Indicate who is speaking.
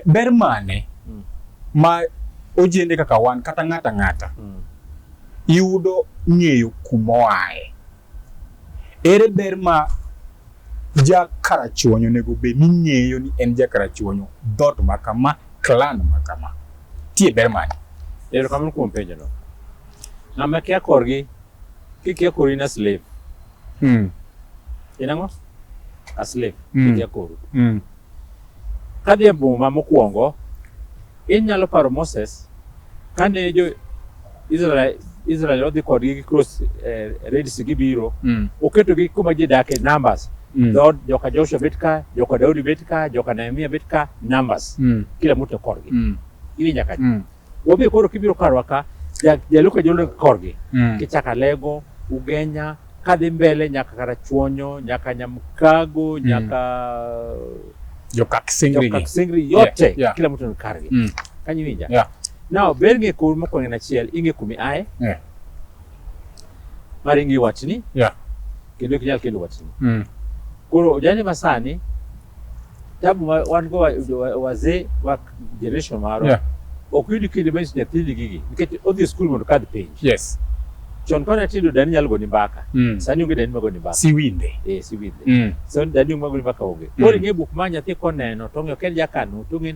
Speaker 1: Ber mane mm. ma ojende kaka wan kata ng'ata ng'ata mm. yudo ng'eyo kumoae? Ere ber ma jakarachuonyo onego bed ni ng'eyo ni en jakarachuonyo dhoot ma kama, klan ma kama? Tie ber mane? Erokamano kuom
Speaker 2: penjono. Ng'ama kia korgi, kikia kori na slave. Mm. In ang'o? A slave. Mm. Ikia koro. Mm. Kadhi e boma mokwongo, inyalo paro Moses kane jo Israel Israel odhi kodgi gi cross eh, Red Sea gibiro, Mm. oketogi kuma ji dake numbers. Mm. Dhood joka Joshua bet ka, joka Daudi bet ka, joka Nehemia bet ka, numbers. Mm. Kila mtu korgi. Mm. Ili nyaka Mm. Wabe koro kibiro karwa ka jaluo ka jolweny korgi mm. kichako Alego, Ugenya kadhi mbele nyaka Karachuonyo, nyaka Nyamkago, mm. nyaka
Speaker 1: Jokakisingri yote yeah, yeah. Kila mtu
Speaker 2: ni kargi mm. Kanyiwinja yeah. Now ber ng'e kor mokwongo en achiel ing'e kumi aye yeah. Mar ing'e watni yeah. Kendo ikinyal kendo watni mm. Koro ojane masani tabu ma wan go wazee wa generation marwa yeah. ok yud kinde manyiso nyathini gigi nikech odhi e skul mondo kadh penj yes.
Speaker 1: chon kane
Speaker 2: atindo dani nyalo goni mbaka mm. sani onge dani magoni mbaka siwinde eh, siwinde
Speaker 1: mm.
Speaker 2: sani dani magoni mbaka onge mm. koro ing'e buk ma nyathi koneno to ong'eyo ken jakano to ong'e